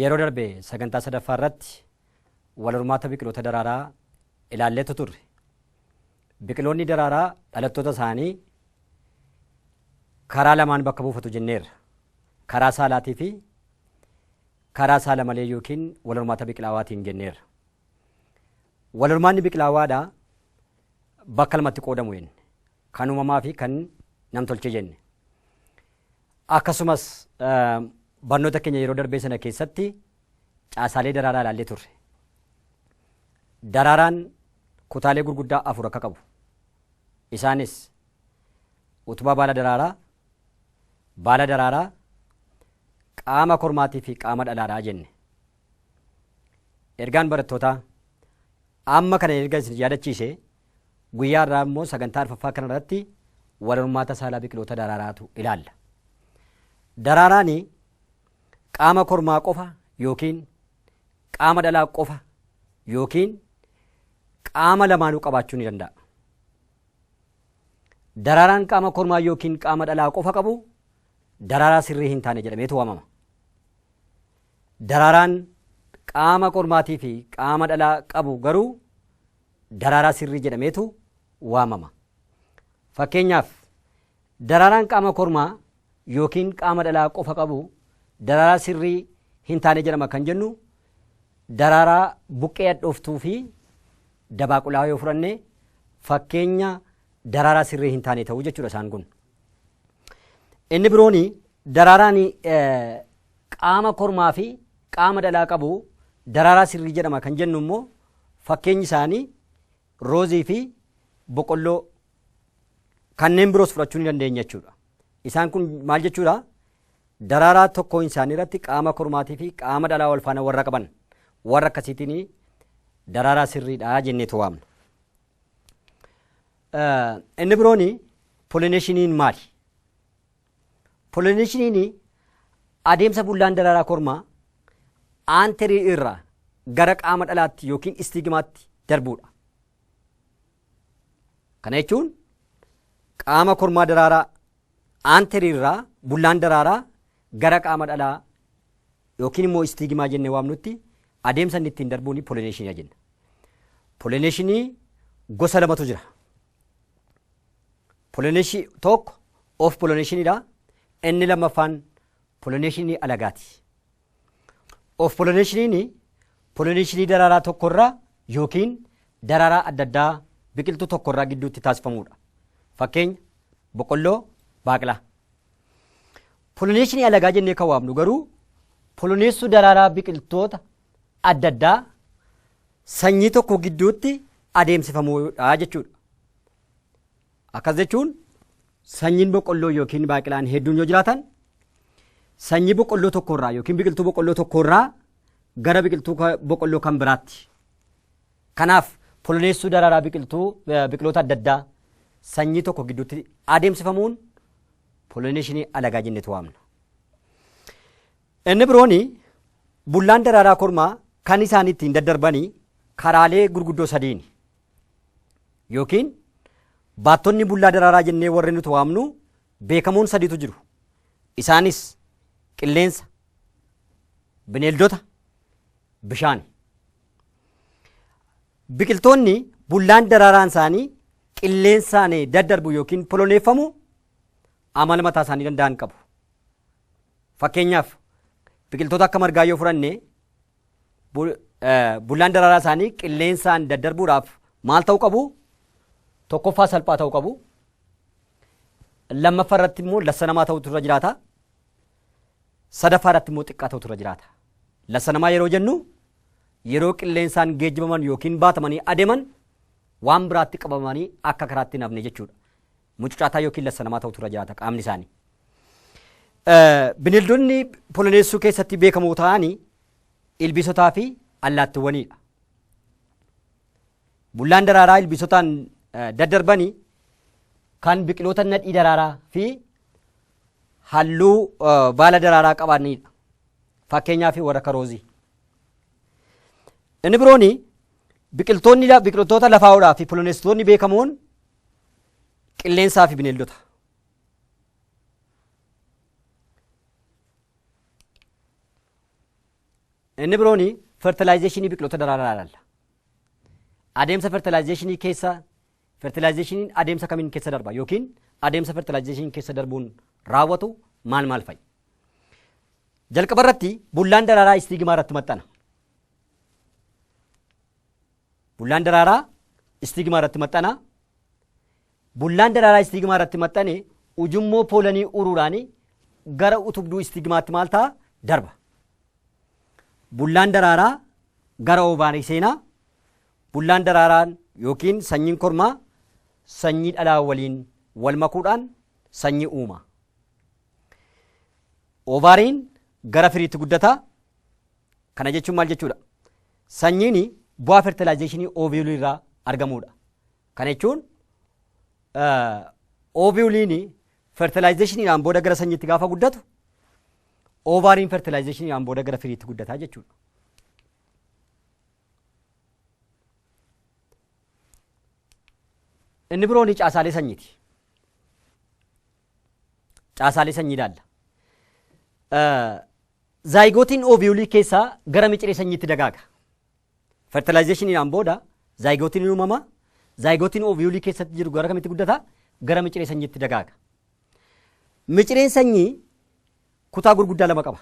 Yeroo darbe sagantaa sadaffaa irratti wal hormaata biqiloota daraaraa ilaalleetu turre. Biqiloonni daraaraa dhalattoota isaanii karaa lamaan bakka buufatu jenneerra. Karaa saalaatii fi karaa saala malee yookiin wal hormaata biqilaawaatiin jenneerra. Wal hormaanni biqilaawaadha bakka lamatti qoodamu jenne. Kan uumamaa fi kan namtolchee jenne. Akkasumas barnoota keenya yeroo darbee sana keessatti caasaalee daraaraa ilaallee turre. Daraaraan kutaalee gurguddaa afur akka qabu. Isaanis utubaa baala daraaraa, baala daraaraa, qaama kormaatii fi qaama dhalaadhaa jenne. Ergaan barattootaa amma kana erga isin yaadachiise Guyyaa irraa immoo sagantaa arfaffaa kana irratti wal hormaata saalaa biqiloota daraaraatu ilaalla. Daraaraani qaama kormaa qofa yookiin qaama dhalaa qofa yookiin qaama lamaanuu qabaachuu ni danda'a. Daraaraan qaama kormaa yookiin qaama dhalaa qofa qabu daraaraa sirrii hin taane jedhameetu waamama. Daraaraan qaama kormaatii fi qaama dhalaa qabu garuu daraaraa sirrii jedhameetu waamama. Fakkeenyaaf, daraaraan qaama kormaa yookiin qaama dhalaa qofa qabu daraaraa sirrii hin taane jedhama kan jennu daraaraa buqqee hadhooftuu fi dabaaqulaa yoo fudhanne fakkeenya daraaraa sirrii hin taane ta'uu jechuudha isaan kun. Inni biroon daraaraan qaama kormaa fi qaama dhalaa qabu daraaraa sirrii jedhama kan jennu immoo Fakkeenyi isaanii roozii fi boqolloo kanneen biroos fudhachuu ni dandeenya jechuudha. Isaan kun maal jechuudha? Daraaraa tokkoon isaanii irratti qaama kormaatii fi qaama dhalaa wal faana warra qaban warra akkasiitiin daraaraa sirriidha jenneetu waamna. Inni biroon polineshiniin maali? Polineshiniin adeemsa bullaan daraaraa kormaa aanterii irraa gara qaama dhalaatti yookiin istiigimaatti darbuudha. Kana jechuun qaama kormaa daraaraa aanterii irraa bullaan daraaraa gara qaama dhalaa yookiin immoo istiigimaa jennee waamnutti adeemsa inni ittiin darbuun polineshiniidha jenna. Polineshinii gosa lamatu jira. Poloneeshii tokko of poloneeshiniidha. Inni lammaffaan poloneeshinii alagaati. Of poloneeshiniin poloneeshinii daraaraa tokkorraa yookiin daraaraa adda addaa biqiltuu tokkorraa gidduutti taasifamudha. Fakkeenya boqqolloo, baaqlaa. Poloneeshinii alagaa jennee kan waamnu garuu poloneessuu daraaraa biqiltoota adda addaa sanyii tokko gidduutti adeemsifamuudha jechuudha. Akkas jechuun sanyiin boqqolloo yookiin baaqilaan hedduun yoo jiraatan sanyii boqqolloo tokkorraa yookiin biqiltuu boqqolloo tokkorraa gara biqiltuu ka- boqqolloo kan biraatti. Kanaaf poloneessuu daraaraa biqiltuu eh, biqiloota adda addaa sanyii tokko gidduutti adeemsifamuun poloneeshinii alagaa jennetu waamna. Inni biroon bullaan daraaraa kormaa kan isaan ittiin daddarbani karaalee gurguddoo sadiini. Yookiin baattonni bullaa daraaraa jennee warri nuti waamnu beekamoon sadiitu jiru. Isaanis qilleensa, bineeldota, bishaani. Biqiltoonni bullaan daraaraan isaanii qilleensaan daddarbu yookiin poloneeffamu amala mataa isaanii danda'an qabu. Fakkeenyaaf biqiltoota akka margaa yoo fudhanne bullaan daraaraa isaanii qilleensaan daddarbuudhaaf maal ta'uu qabu? Tokkoffaa salphaa ta'uu qabu. Lammaffaa irratti immoo lassa namaa ta'utu irra jiraata. Sadaffaa irratti immoo xiqqaa ta'utu irra jiraata. Lassa namaa yeroo jennu yeroo qilleensaan geejjibaman yookiin baatamanii adeeman waan biraatti qabamanii akka karaatti hin hafne jechuudha. mucucaataa yookiin lassanamaa ta'utu irra jiraata qaamni isaanii. Bineeldonni poloneessuu keessatti beekamoo ta'anii ilbiisotaa fi allaattiwwaniidha. Bullaan daraaraa ilbiisotaan daddarbanii kan biqiloota nadhii daraaraa fi halluu baala daraaraa qabanidha. Fakkeenyaaf warra karoozii. Inni biroon biqiltoonni biqiltoota lafaa olaa fi poloneessitoonni beekamoon qilleensaa fi bineeldota. Inni biroon fertilaayizeeshinii biqiloota daraaraa ilaalla. Adeemsa fertilaayizeeshinii keessa fertilaayizeeshiniin adeemsa kamiin keessa darba yookiin adeemsa fertilaayizeeshiniin keessa darbuun raawwatu maal maal fa'i? Jalqaba irratti bullaan daraaraa istiigimaa irratti maxxana. Bullaan daraaraa istiigimaa irratti maxxana. Bullaan daraaraa istiigimaa irratti maxxane ujummoo poolanii uruuraan gara utubduu istiigimaatti maal ta'a? Darba. Bullaan daraaraa gara oovaarii seenaa. Bullaan daraaraan yookiin sanyiin kormaa sanyii dhalaa waliin wal makuudhaan sanyii uuma. Oovaariin gara firiitti guddata. Kana jechuun maal jechuudha? Sanyiin bu'aa fertilaayizeeshinii ooviyulii irraa argamuudha. Kana jechuun ooviyuliin fertilaayizeeshiniidhaan booda gara sanyiitti gaafa guddatu oovaariin fertilaayizeeshiniidhaan booda gara firiitti guddataa jechuudha. Inni biroon caasaalee sanyiiti. caasaalee sanyii ilaalla. Zaayigootiin ooviyuulii keessaa gara miciree sanyiitti dagaaga. Fertilaayizeeshiniidhaan booda zaayigootiin ni uumama. Zaayigootiin ooviyuulii keessatti jiru gara kamitti guddata? Gara miciree sanyiitti dagaaga. Micireen sanyii kutaa gurguddaa lama qaba.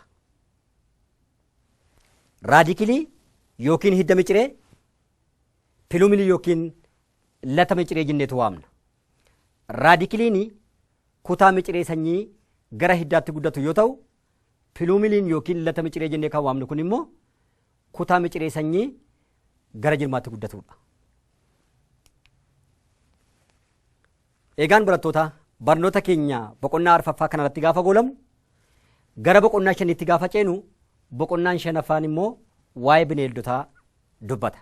Raadikilii yookiin hidda miciree, pilumilii yookiin lata miciree jenneetu waamna. Raadikiliini kutaa miciree sanyii gara hiddaatti guddatu yoo ta'u, piluumiliin yookiin lata miciree jennee kan waamnu kun immoo kutaa miciree sanyii gara jirmaatti guddatudha. Eegaan barattoota barnoota keenya boqonnaa arfaffaa kanarratti gaafa goolamu gara boqonnaa shanitti gaafa ceenu boqonnaan shanaffaan immoo waa'ee bineeldotaa dubbata.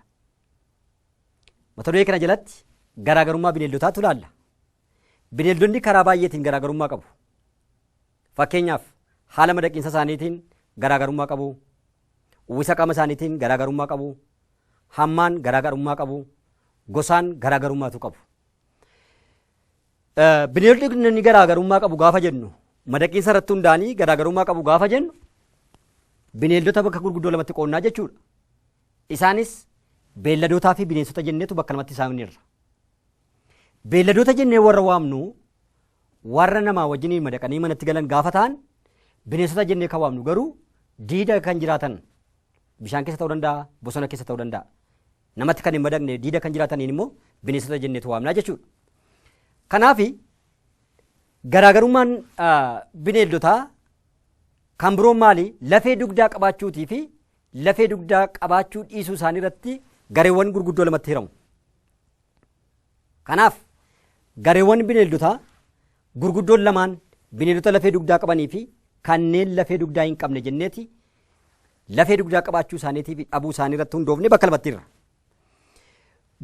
Mata duree kana jalatti garaagarummaa bineeldotaatu ilaalla. Bineeldonni karaa baay'eetiin garaagarummaa qabu. Fakkeenyaaf haala madaqiinsa isaaniitiin garaagarummaa qabu. Uwwisa qaama isaaniitiin garaagarummaa qabu. Hammaan garaagarummaa qabu. Gosaan garaagarummaatu qabu. Bineeldonni garaagarummaa qabu gaafa jennu madaqiinsa irratti hundaa'anii garaagarummaa qabu gaafa jennu bineeldota bakka gurguddoo lamatti qoonnaa jechuudha. Isaanis beelladootaa fi bineensota jenneetu bakka lamatti saamneerra. Beelladoota jennee warra waamnu warra namaa wajjiniin madaqanii manatti galan gaafa ta'an bineensota jennee kan waamnu garuu diida kan jiraatan bishaan keessa ta'uu danda'a, bosona keessa ta'uu danda'a. Namatti kan hin madaqne diida kan jiraataniin immoo bineensota jenneetu waamnaa jechuudha. Kanaaf garaagarummaan bineeldotaa kan biroon maali? Lafee dugdaa qabaachuutii fi lafee dugdaa qabaachuu dhiisuu isaanii irratti gareewwan gurguddoo lamatti hiramu. Kanaaf gareewwan bineeldotaa gurguddoon lamaan bineeldota lafee dugdaa qabanii fi kanneen lafee dugdaa hin qabne jenneeti lafee dugdaa qabaachuu isaaniitii fi dhabuu isaanii irratti hundoofne bakka lamatti irra.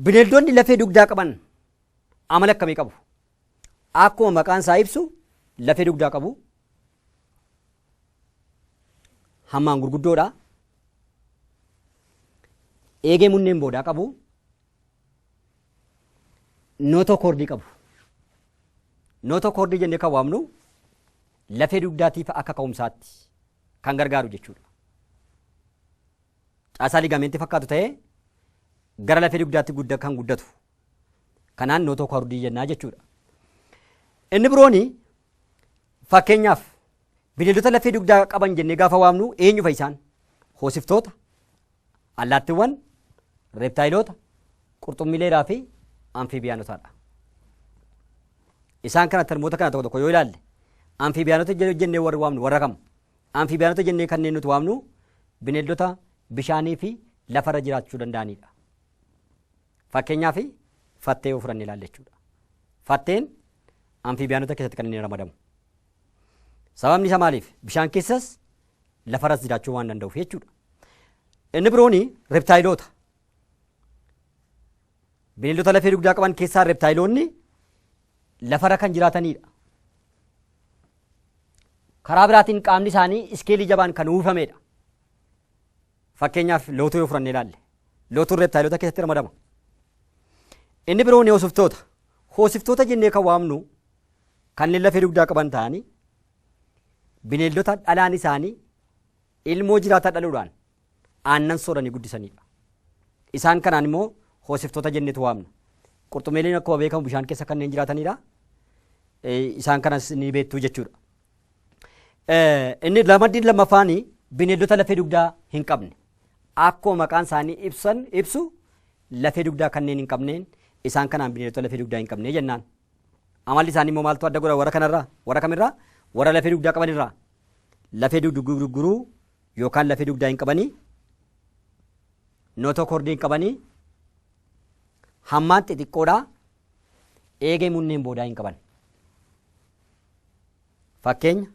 Bineeldonni lafee dugdaa qaban amala akkamii qabu? Akkuma maqaan isaa ibsu lafee dugdaa qabu. Hammaan gurguddoodha. Eegee munneen boodaa qabu. Nootoo koordii qabu. Nootoo koordii jennee kan waamnu lafee dugdaatiif akka ka'umsaatti kan gargaaru jechuudha. Caasaa ligaameentii fakkaatu ta'ee gara lafee dugdaatti gudda kan guddatu Kanaan nootoo kordii jennaa jechuudha. Inni birooni fakkeenyaaf bineeldota lafee dugdaa qaban jennee gaafa waamnu eenyu fa'i isaan? Hoosiftoota, allaattiwwan, reeptaayiloota, qurxummiileeraa fi amfiibiyaanotaadha. Isaan kana tarmoota kana tokko tokko yoo ilaalle amfiibiyaanota jennee warri waamnu warra kam? Amfiibiyaanota jennee kanneen nuti waamnu bineeldota bishaanii fi lafarra jiraachuu danda'anidha. Fakkeenyaaf fattee yoo fudhanne ilaalle jechuudha. Fatteen amfiibiyaanota keessatti kan inni ramadamu. Sababni isaa maaliif? Bishaan keessas lafarras jiraachuu waan danda'uuf jechuudha. Inni biroon reptaayiloota. Bineeldota lafee dugdaa qaban keessaa reptaayiloonni lafarra kan jiraatanidha. Karaa biraatiin qaamni isaanii iskeelii jabaan kan uwwifamedha. Fakkeenyaaf lootuu yoo fudhannee ilaalle. Lootuun reeptaayilota keessatti ramadama. Inni biroon hoosiftoota. Hoosiftoota jennee kan waamnu kanneen lafee dugdaa qaban ta'anii bineeldota dhalaan isaanii ilmoo jiraataa dhaluudhaan aannan sooranii guddisanidha. Isaan kanaan immoo hoosiftoota jenneetu waamna. Qurxummiileen akkuma beekamu bishaan keessa kanneen jiraatanidha. Isaan kanas ni beektu jechuudha. Inni ramaddiin lammaffaan bineeldota lafee dugdaa hin qabne. Akkuma maqaan isaanii ibsan ibsu lafee dugdaa kanneen hin qabneen isaan kanaan bineeldota lafee dugdaa hin qabne jennaan. Amalli isaanii immoo maaltu adda godha warra kanarraa warra kamirraa warra lafee dugdaa qabanirraa lafee dugduguruu yookaan lafee dugdaa hin qabanii nootokordii hin qabanii hammaan xixiqqoodhaa eegee munneen boodaa hin qaban. Fakkeenya,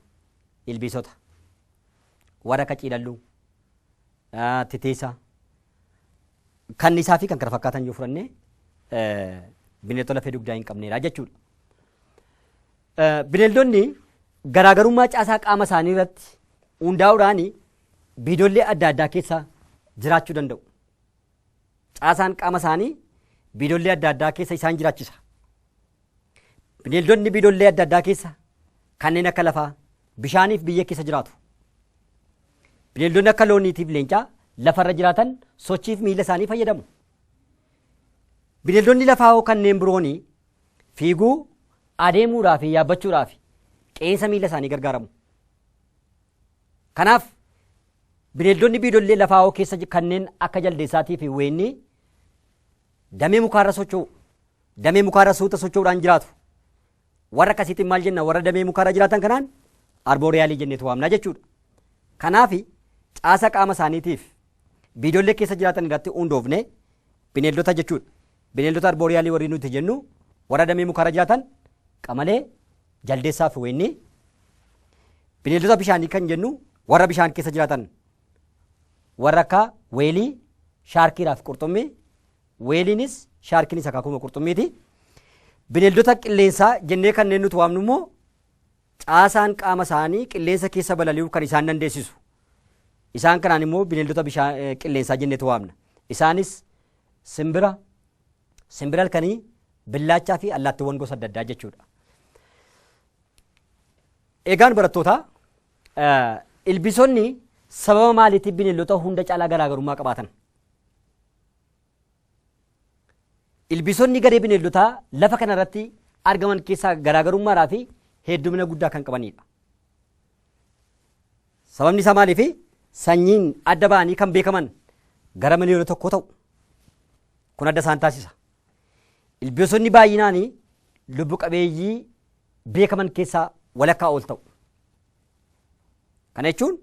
Ilbiisota. Warra akka ciilalluu, ah, titiisa, kanniisaa fi kan kana fakkaatan yoo fudhanne eh, bineeldota lafee dugdaa hin qabneedha jechuudha. Eh, Bineeldonni garaagarummaa caasaa qaama isaanii irratti hundaa'uudhaan biidollee adda addaa keessa jiraachuu danda'u. Caasaan qaama isaanii biidollee adda addaa keessa isaan jiraachisa. Bineeldonni biidollee adda addaa keessa kanneen akka lafaa bishaaniif biyya keessa jiraatu. Bineeldonni akka looniitiif leencaa lafarra jiraatan sochiif miila isaanii fayyadamu. Bineeldonni lafaa hoo kanneen birooni fiiguu, adeemuudhaa fi yaabbachuudhaaf qeensa miila isaanii gargaaramu. Kanaaf Bineeldonni biidollee lafaawoo keessa kanneen akka jaldeessaatii fi weennii damee mukaarra socho'u. Damee mukaarra suuta socho'uudhaan jiraatu. Warra akkasiitiin maal jenna? Warra damee mukaarra jiraatan kanaan arbooriyaalii jenneetu waamna jechuudha. Kanaaf caasa qaama isaaniitiif biidollee keessa jiraatan irratti hundoofne bineeldota jechuudha. Bineeldota arbooriyaalii warri nuti jennu warra damee mukaarra jiraatan qamalee, Jaldeessaa fi Weennii bineeldota bishaanii kan jennu warra bishaan keessa jiraatan warra akka weelii, shaarkiidhaa fi qurxummii. Weeliinis shaarkiinis akaakuma qurxummiiti. Bineeldota qilleensaa jennee kanneen nuti waamnu immoo caasaan qaama isaanii qilleensa keessa balali'uu kan isaan dandeessisu. Isaan kanaan immoo bineeldota bishaan qilleensaa jenneetu waamna. Isaanis simbira, Simbira halkanii, billaachaa fi allaattiwwan gosa adda addaa jechuudha. Egaan barattootaa ilbiisonni sababa maaliitiif bineeldota hunda caalaa garaagarummaa qabaatan? Ilbiisonni garee bineeldotaa lafa kanarratti argaman keessaa garaagarummaadhaa fi heddumina guddaa kan qabanidha. Sababni isaa maaliifi? Sanyiin adda ba'anii kan beekaman gara miliyoona tokkoo ta'u. Kun adda isaan taasisa. Ilbiisonni baay'inaan lubbu qabeeyyii beekaman keessaa walakkaa ol ta'u. Kana jechuun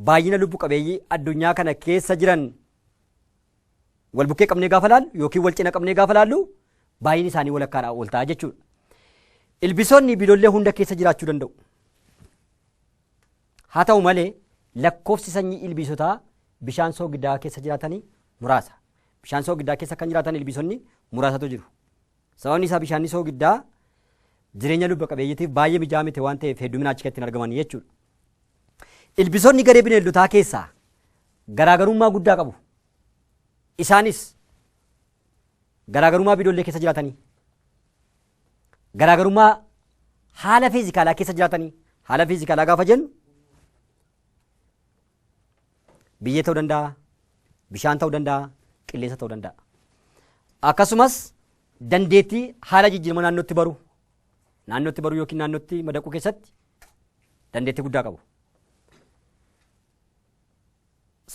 baay'ina lubbu qabeeyyii addunyaa kana keessa jiran wal bukkee qabnee gaafa laallu yookiin wal cina qabnee gaafa laallu baay'inni isaanii walakkaadhaa ol ta'a jechuudha. Ilbiisonni biilollee hunda keessa jiraachuu danda'u. Haa ta'u malee, lakkoofsi sanyii ilbiisotaa bishaan soogidaa keessa jiraatanii muraasa. Bishaan soogidaa keessa kan jiraatan ilbiisonni muraasatu jiru. Sababni isaa bishaanni soogiddaa jireenya lubba qabeeyyitiif baay'ee mijaa'aa miti waan ta'eef hedduminaa achi keessatti hin argaman jechuudha. Ilbiisonni garee bineeldotaa keessaa garaagarummaa guddaa qabu. Isaanis garaagarummaa bidoollee keessa jiraatanii garaagarummaa haala fiizikaalaa keessa jiraatanii haala fiizikaalaa gaafa jennu biyyee ta'uu danda'a, bishaan ta'uu danda'a, qilleensa ta'uu danda'a. Akkasumas dandeettii haala jijjiirama naannootti baru naannootti baruu yookiin naannootti madaquu keessatti dandeettii guddaa qabu.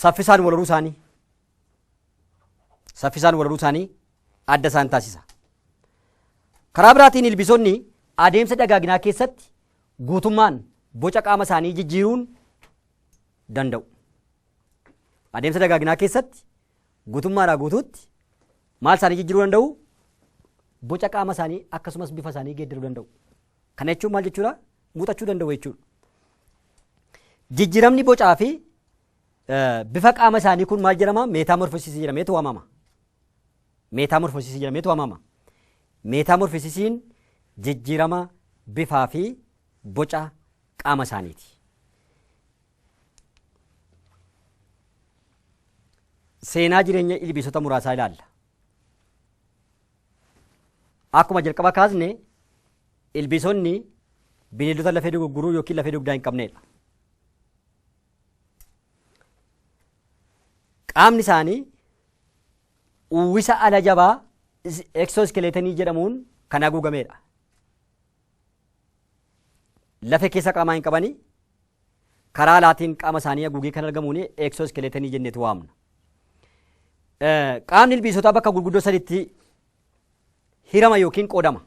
Saffisaan wal horuu isaanii saffisaan walaluu isaanii adda isaan taasisa. Karaa biraatiin ilbiisonni adeemsa dagaaginaa keessatti guutummaan boca qaama isaanii jijjiiruun danda'u. Adeemsa dagaaginaa keessatti guutummaadhaa guutuutti maal isaanii jijjiiruu danda'u? Boca qaama isaanii akkasumas bifa isaanii geeddaruu danda'u. Kana jechuun maal jechuudha? Muuxachuu danda'u jechuudha. Jijjiiramni bocaa fi Bifa qaama isaanii kun maal jedhama? Meetaamorfosiisii jedhameetu waamama. Meetaamorfosiisii jedhameetu waamama. Meetaamorfosiisiin jijjiirama bifaa fi boca qaama isaaniiti. Seenaa jireenya ilbiisota muraasaa ilaalla. Akkuma jalqaba kaasne ilbiisonni bineeldota lafee dugugguruu yookiin lafee dugdaa hin qabneedha. qaamni isaanii uwwisa ala jabaa eksooskileetonii jedhamuun kan haguugameedha. Lafe keessa qaamaa hin qabani karaa alaatiin qaama isaanii haguugee kan argamuun eksooskileetonii jenneeti waamna. Qaamni ilbiisotaa bakka gurguddoo sadiitti hirama yookiin qoodama.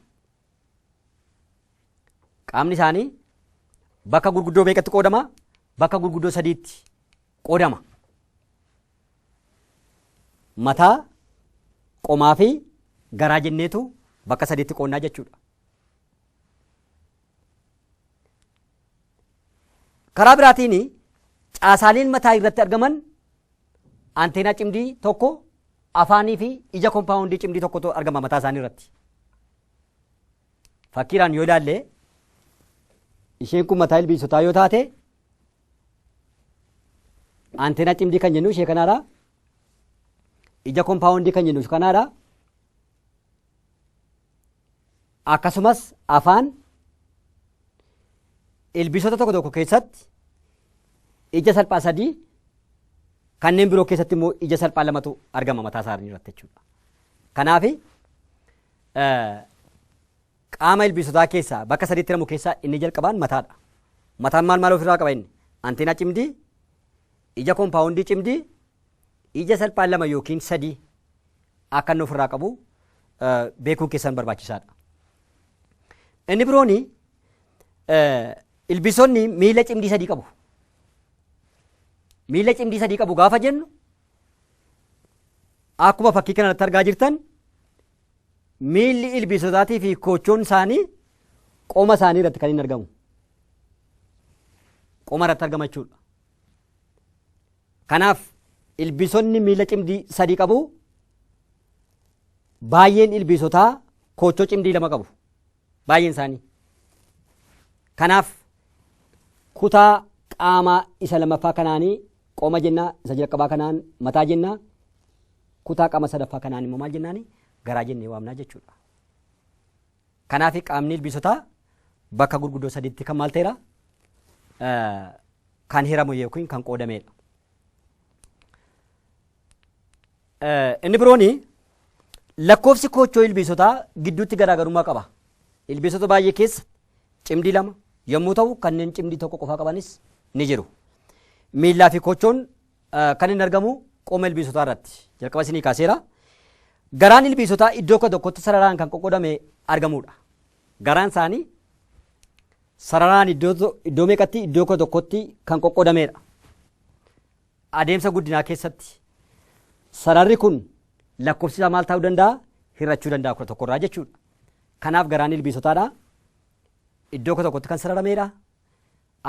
Qaamni isaanii bakka gurguddoo meeqatti qoodama? Bakka gurguddoo sadiitti qoodama. Mataa, qomaa fi garaa jenneetu bakka sadiitti qoonnaa jechuudha. Karaa biraatiin caasaaleen mataa irratti argaman anteenaa cimdii tokko afaanii fi ija kompaawundii cimdii tokkotu argama mataa isaanii irratti. Fakkiidhaan yoo ilaalle isheen kun mataa ilbiisotaa yoo taate anteenaa cimdii kan jennu ishee kanaadha. Ija kompaawundii kan jennu kanaadha. Akkasumas afaan ilbiisota tokko tokko keessatti ija salphaa sadii kanneen biroo keessatti immoo ija salphaa lamatu argama mataa isaanii irratti jechuudha. Kanaaf Qaama ilbiisotaa keessaa bakka sadiitti hiramu keessaa inni jalqabaan mataadha. Mataan maal maal ofirraa qaba inni? Anteenaa cimdii, ija kompaawundii cimdii, ija salphaan lama yookiin sadii akka inni ofirraa qabu beekuun keessan barbaachisaadha. Inni birooni ilbiisonni miila cimdii sadii qabu. Miila cimdii sadii qabu gaafa jennu Akkuma fakkii kana irratti argaa jirtan miilli ilbiisotaatii fi koochoon isaanii qoma isaanii irratti kan hin argamu. Qoma irratti argama jechuudha. Kanaaf ilbiisonni miila cimdii sadii qabu. Baay'een ilbiisotaa koochoo cimdii lama qabu. Baay'een isaanii. Kanaaf kutaa qaamaa isa lamaffaa kanaanii qoma jenna isa jalqabaa kanaan mataa jenna kutaa qaama sadaffaa kanaan immoo maal jennaani garaa jennee waamnaa jechuudha. Kanaaf qaamni ilbiisotaa bakka gurguddoo sadiitti kan maal ta'eera kan hiramu yookiin kan qoodameedha. Inni biroon lakkoofsi koochoo ilbiisotaa gidduutti garaagarummaa qaba. Ilbiisota baay'ee keessa cimdii lama yommuu ta'u kanneen cimdii tokko qofaa qabanis ni jiru. Miillaa fi koochoon kan inni argamu qooma ilbiisotaa irratti jalqaba isinii kaaseera. Garaan ilbiisotaa iddoo kudha tokkotti sararaan kan qoqqoodame argamudha. Garaan isaanii sararaan iddoo meeqatti iddoo kudha tokkotti kan qoqqoodameedha. Adeemsa guddinaa keessatti sararri kun lakkofsi isaa maal taa'uu danda'a? Hir'achuu danda'a kudha tokko irraa jechuudha. Kanaaf garaan ilbiisotaadha. Iddoo kudha tokkotti kan sararameedha.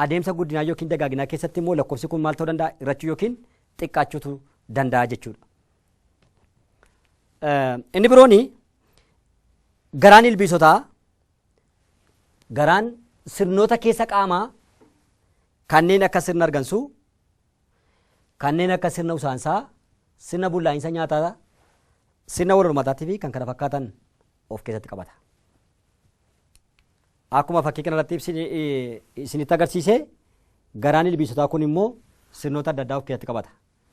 Adeemsa guddinaa yookiin dagaaginaa keessatti immoo lakkofsi kun maal ta'uu danda'a? Hir'achuu yookiin xiqqaachuutu danda'a jechuudha. Inni biroon garaan ilbiisotaa garaan sirnoota keessa qaamaa kanneen akka sirna argansuu, kanneen akka sirna usaansaa, sirna bullaa'insa nyaataa, sirna wal hormaataatii fi kan kana fakkaatan of keessatti qabata. Akkuma fakkii kanarratti isinitti agarsiise garaan ilbiisotaa kun immoo sirnoota adda addaa of keessatti qabata.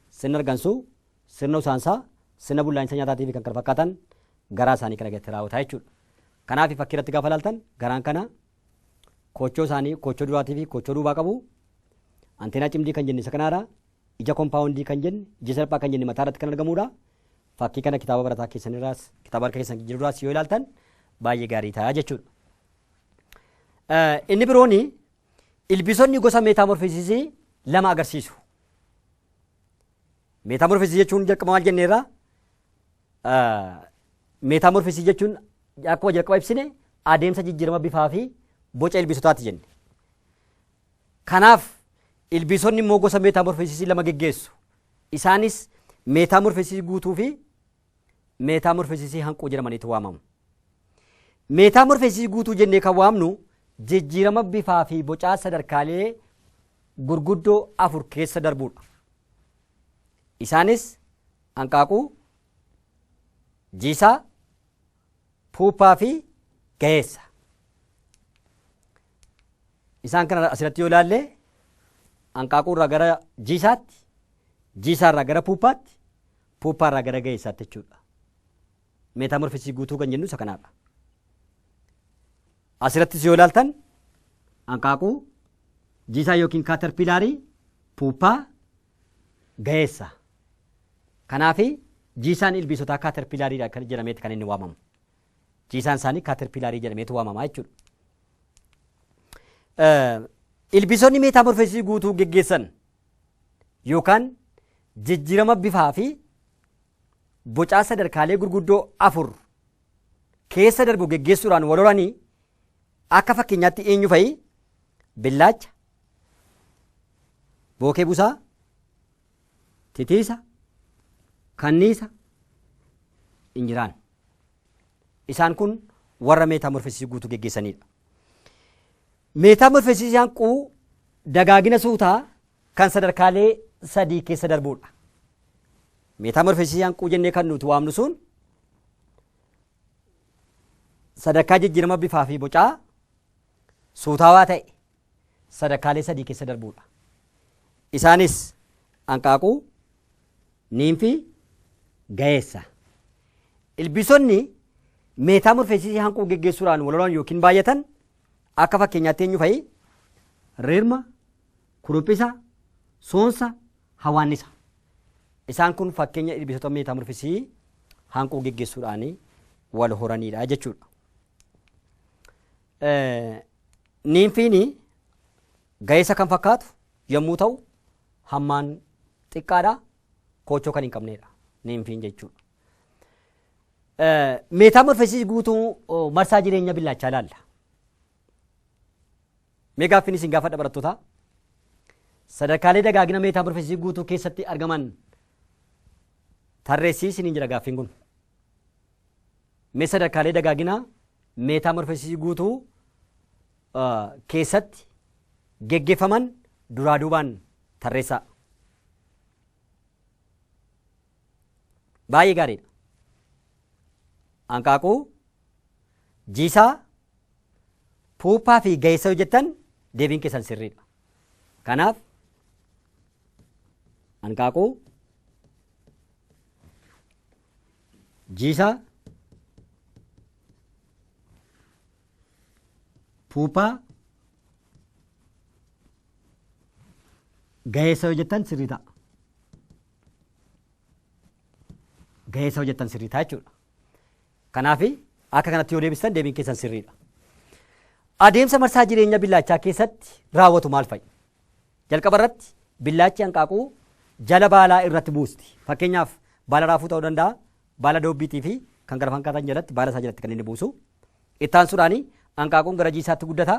Sirna argansuu, sirna usaansaa, sirna bullaa'insa nyaataatii fi kan kana fakkaatan garaa isaanii kana keessatti raawwata jechuudha. Kanaaf fakkii irratti gaafa ilaaltan garaan kana Koochoo isaanii koochoo duraatii fi koochoo duubaa qabu. Anteenaa cimdii kan jenne isa kanaadha. Ija kompaawundii kan jenne, ija salphaa kan jenne mataa irratti kan argamuudha. Fakkii kana kitaaba barataa keessan irraas, kitaaba harka keessan jiru irraas yoo ilaaltan baay'ee gaarii ta'a jechuudha. Inni biroon ilbiisonni gosa meetaamorfisisii lama agarsiisu. Meetaamorfisisii jechuun jalqaba maal jenneerra? Meetaamorfisii jechuun akkuma jalqaba ibsine adeemsa jijjiirama bifaa fi boca ilbiisotaati jenne. Kanaaf ilbiisonni immoo gosa meetaamorfisisii lama geggeessu. Isaanis meetaamorfisisii guutuu fi meetaamorfisisii hanquu jedhamaniitu waamamu. Meetaamorfisisii guutuu jennee kan waamnu jijjiirama bifaa fi bocaa sadarkaalee gurguddoo afur keessa darbuudha. Isaanis hanqaaquu, Jiisaa, Puuphaa fi Gaheessa. Isaan kana asirratti yoo ilaalle hanqaaquu irraa gara jiisaatti, jiisaa irraa gara puuphaatti, puuphaa irraa gara gaheessaatti jechuudha. Meetaamorfisii guutuu kan jennu isa kanaadha. Asirrattis yoo ilaaltan hanqaaquu jiisaa yookiin kaatarpiilaarii puuphaa gaheessa. Kanaaf jiisaan ilbiisotaa kaaterpiilaariidha kan jedhameeti kan inni waamamu. Jiisaan isaanii kaaterpiilaarii jedhameetu waamama jechuudha. Eh, Ilbiisonni meetaamorfeesii guutuu geggeessan yookaan jijjiirama bifaa fi bocaa sadarkaalee gurguddoo afur keessa darbu geggeessuudhaan wal horanii akka fakkeenyaatti eenyu fa'i billaacha, Bookee busaa, titiisa, kanniisa, injiraan. Isaan kun warra meetaamorfesisii guutuu geggeessanidha. Meetaamorfesisiyaan quu dagaagina suutaa kan sadarkaalee sadii keessa darbuudha. Meetaamorfesisiyaan quu jennee kan nuti waamnu sun sadarkaa jijjiirama bifaa fi bocaa suutaawaa ta'e sadakaalee sadii keessa darbuu dha. Isaanis, anqaaquu, niimfi, gayeessa. Ilbiisonni meetaamorfeesisii hanquu geggeessuudhaan walhoran yookiin baay'atan akka fakkeenyaatti eenyu fa'i? Rirma, kuruphisa, soonsa, hawaannisa. Isaan kun fakkeenya ilbiisota meetaamorfeesisii hanquu geggeessuudhaan wal horaniidha jechuudha. Niinfiin ga'eessa kan fakkaatu yommuu ta'u hammaan xiqqaadha. Koochoo kan hin qabneedha. Niinfiin jechuudha. Meetaamorfesii guutuu marsaa jireenya billaachaa ilaalla. Mee gaaffiin isin gaafadha barattootaa? Sadarkaalee dagaagina meetaamorfesii guutuu keessatti argaman tarreessii isiniin jira gaaffiin kun. Mee sadarkaalee dagaagina meetaamorfosisii guutuu keessatti geggeeffaman duraa duubaan tarreessaa. Baay'ee gaariidha. Hanqaaquu, jiisaa, puuphaa fi ga'eessa yoo jettan deebiin keessan sirriidha. Kanaaf hanqaaquu, Jiisaa puupaa gaheessa yoo jettan sirrii ta'a. Gaheessa yoo jettan sirrii ta'a jechuudha. Kanaaf akka kanatti yoo deebistan deebiin keessan sirriidha. Adeemsa marsaa jireenya billaachaa keessatti raawwatu maal fa'i? Jalqaba irratti billaachi hanqaaquu jala baalaa irratti buusti. Fakkeenyaaf baala raafuu ta'uu danda'a, baala doobbiitii fi kan kana fakkaatan jalatti baala isaa jalatti kan inni buusu. Itti aansuudhaan hanqaaquun gara jiisaatti guddata.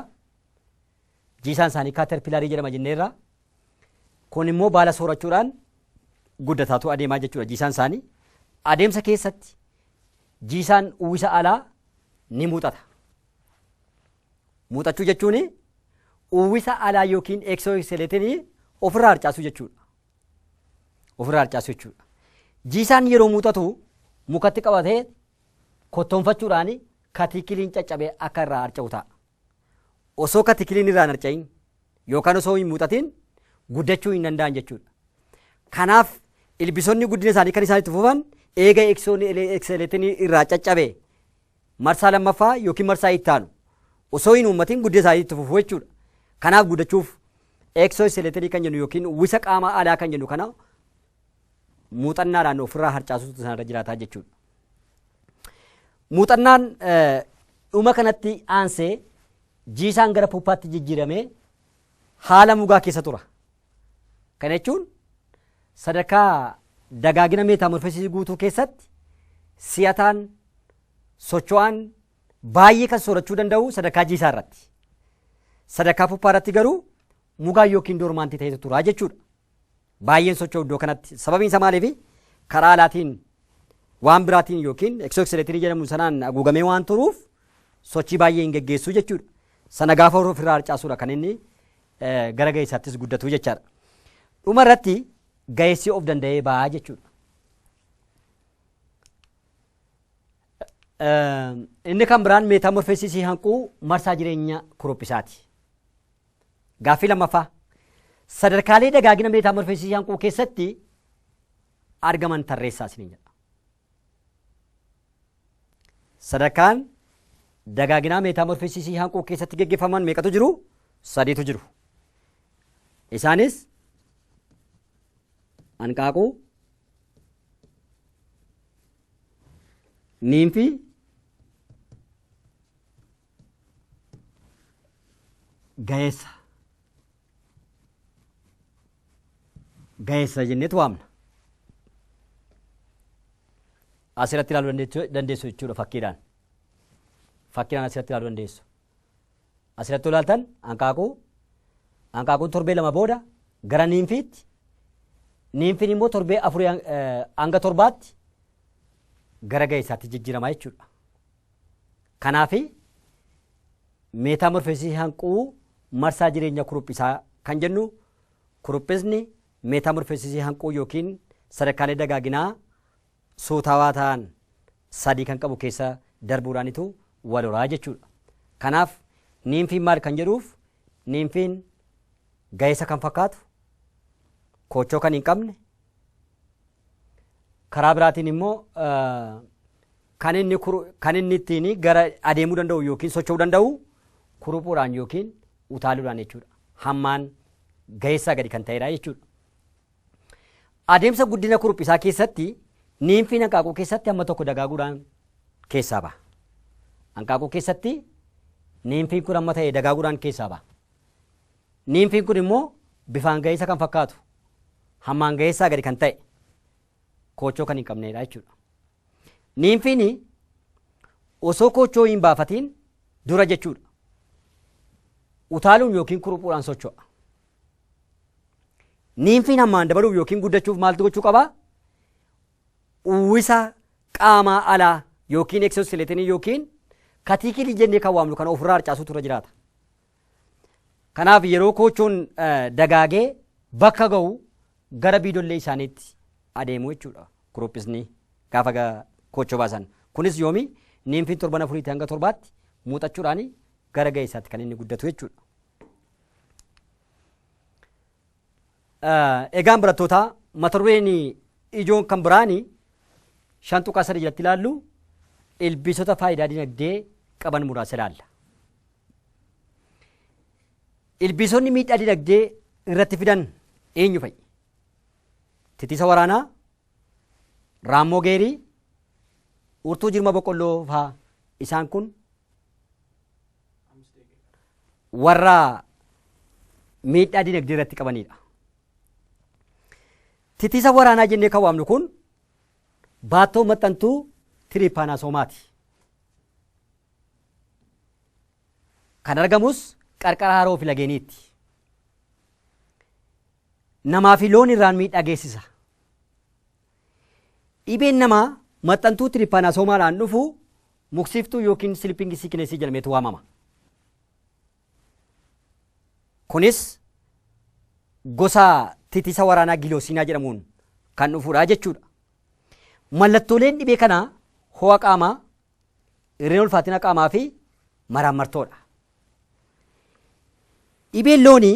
Jiisaan isaanii kaaterpilarii jedhama jenneerra. Kun immoo baala soorachuudhaan guddataatu adeemaa jechuudha jiisaan isaanii. Adeemsa keessatti jiisaan uwwisa alaa ni muuxata. Muuxachuu jechuun uwwisa alaa yookiin eksooskeleetinii ofirraa harcaasuu jechuudha. Ofirraa harcaasuu jechuudha. Jiisaan yeroo muuxatu mukatti qabatee kottoonfachuudhaan katiikiliin caccabee akka irraa harca'u ta'a. Osoo katiikiliin irraa hin harca'in yookaan osoo hin muuxatiin guddachuu hin danda'an jechuudha. Kanaaf ilbisoonni guddina isaanii kan isaan itti fufan eega eksoon ekseleetinii irraa caccabe marsaa lammaffaa yookiin marsaa itti aanu osoo hin uummatiin guddina isaanii itti fufuu jechuudha. Kanaaf guddachuuf exoskeletonii kan jennu yookiin uwwisa qaamaa alaa kan jennu kana muuxannaadhaan ofirraa harcaasuutu isaanirra jiraataa jechuudha. Muuxannaan eh, dhuma kanatti aansee jiisaan gara puuppaatti jijjiiramee haala mugaa keessa tura. Kana jechuun sadarkaa dagaagina meetaamorfesisii guutuu keessatti si'ataan, socho'aan baay'ee kan soorachuu danda'u sadarkaa jiisaa irratti. Sadarkaa puppaa irratti garuu mugaa yookiin doormaantii ta'etu tura jechuudha. Baay'een socho'u iddoo kanatti. Sababiin isaa maaliifi? Karaa alaatiin waan biraatiin yookiin eksooksileetirii jedhamu sanaan haguugamee waan turuuf sochii baay'ee hin geggeessu jechuudha. Sana gaafa ofirraa harcaasudha kan inni gara ga'eessaattis guddatu jechaadha. Dhuma irratti ga'eessi of danda'ee ba'a jechuudha. Inni kan biraan meetaamorfeesisii hanquu marsaa jireenya kurophisaati. Gaaffii lammaffaa sadarkaalee dagaagina meetaamorfeesisii hanquu keessatti argaman tarreessaa isiniin jedha. Sadarkaan dagaaginaa meetaamorfisisii hanquu keessatti geggeeffaman meeqatu jiru? Sadiitu jiru. Isaanis hanqaaquu, niinfii, gaheessa. gaheessa jenneetu waamna. Asirratti ilaaluu dandeechu- dandeessu jechuudha fakkiidhaan. Fakkiidhaan asirratti ilaaluu dandeessu. Asirratti ilaaltan hanqaaquu hanqaaquun torbee lama booda gara niinfiitti niinfiin immoo torbee afurii hang- eh, hanga torbaatti gara gaheessaatti jijjiirama jechuudha. Kanaaf, meetaamorfeesisii hanquu marsaa jireenya kuruphisaa kan jennu, kuruphisni meetaamorfeesisii hanquu yookiin sadarkaalee dagaaginaa suutawaa ta'an sadii kan qabu keessa darbuudhaanitu wal horaa jechuudha. Kanaaf, niimfiin maal kan jedhuuf, niimfiin ga'eessa kan fakkaatu, koochoo kan hin qabne, Karaa biraatiin immoo kan inni kan inni ittiin gara adeemuu danda'u yookiin socho'uu danda'u kuruphuudhaan yookiin utaaluudhaan jechuudha. Hammaan gaheessaa gadi kan ta'edha jechuudha. Adeemsa guddina kuruphisaa keessatti niinfiin hanqaaquu keessatti amma tokko dagaaguudhaan keessaa baha. Hanqaaquu keessatti niinfiin kun amma ta'e dagaaguudhaan keessaa baha. Niimfiin kun immoo bifaan ga'eessa kan fakkaatu, hammaan ga'eessaa gadi kan ta'e, koochoo kan hin qabneedha jechuudha. Niimfiin osoo koochoo hin baafatiin dura jechuudha. Utaaluun yookiin kuruphuudhaan socho'a. Niimfiin hammaan dabaluuf yookiin guddachuuf maaltu gochuu qabaa? Uwwisa qaamaa alaa yookiin eksoosileetinii yookiin katiikilii jennee kan waamnu kana ofirraa harcaasuutu irra jiraata. Kanaaf yeroo koochoon dagaagee bakka ga'u gara biidollee isaaniitti adeemu jechuudha groupisni gaafa koochoo baasan. Kunis yoomi niimfiin torban afuriitii hanga torbaatti muuxachuudhaan gara ga'eessaatti kan inni guddatu jechuudha. Egaan barattootaa mata dureen ijoon kan biraani shan tuqaa sadii jalatti ilaallu ilbiisota faayidaa dinagdee qaban muraasa ilaalla. Ilbiisonni miidhaa dinagdee irratti fidan eenyu fa'i? Titisa waraanaa, raammoo geerii, urtuu jirma boqqolloo faa isaan kun warra miidhaa dinagdee irratti qabanidha. Titisa waraanaa jennee kan waamnu kun baattoo maxxantuu tiriipaanaasomaati. Kan argamus qarqara haroo fi lageeniitti. Namaa fi loon irraan miidhaa geessisa. Dhibeen namaa maxxantuu tiripaanasoomaadhaan dhufu muksiftuu yookiin silipingi siikinesii jedhameetu waamama. Kunis gosa titisa waraanaa giloosiinaa jedhamuun kan dhufudha jechuudha. Mallattooleen dhibee kanaa ho'a qaamaa, Irreen ulfaatina qaamaa fi maraammartoo dha. Dhibeen loonii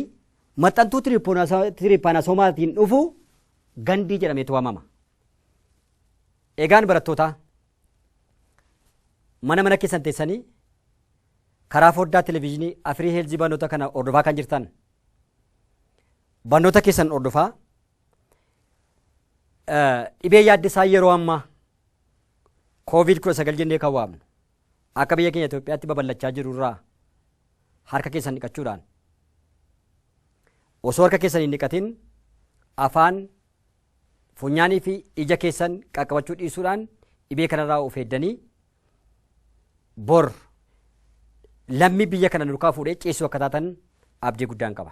maxxantuu tiripaanasoomaatiin dhufu gandii jedhameetu waamama. Egaan barattootaa mana mana keessan teessanii karaa foddaa televezyiinii afirii heelzii barnoota kana hordofaa kan jirtan barnoota keessan hordofaa Dhibee yaaddisaa yeroo ammaa kooviid 19 jennee kan waamnu akka biyya keenya Itoophiyaatti babal'achaa jiru irraa harka keessan dhiqachuudhaan osoo harka keessan hin dhiqatin afaan funyaanii fi ija keessan qaqqabachuu dhiisuudhaan dhibee kanarraa of eegganii bor lammii biyya kana nurkaa fuudhee ciisuu akka taatan abdii guddaan qaba.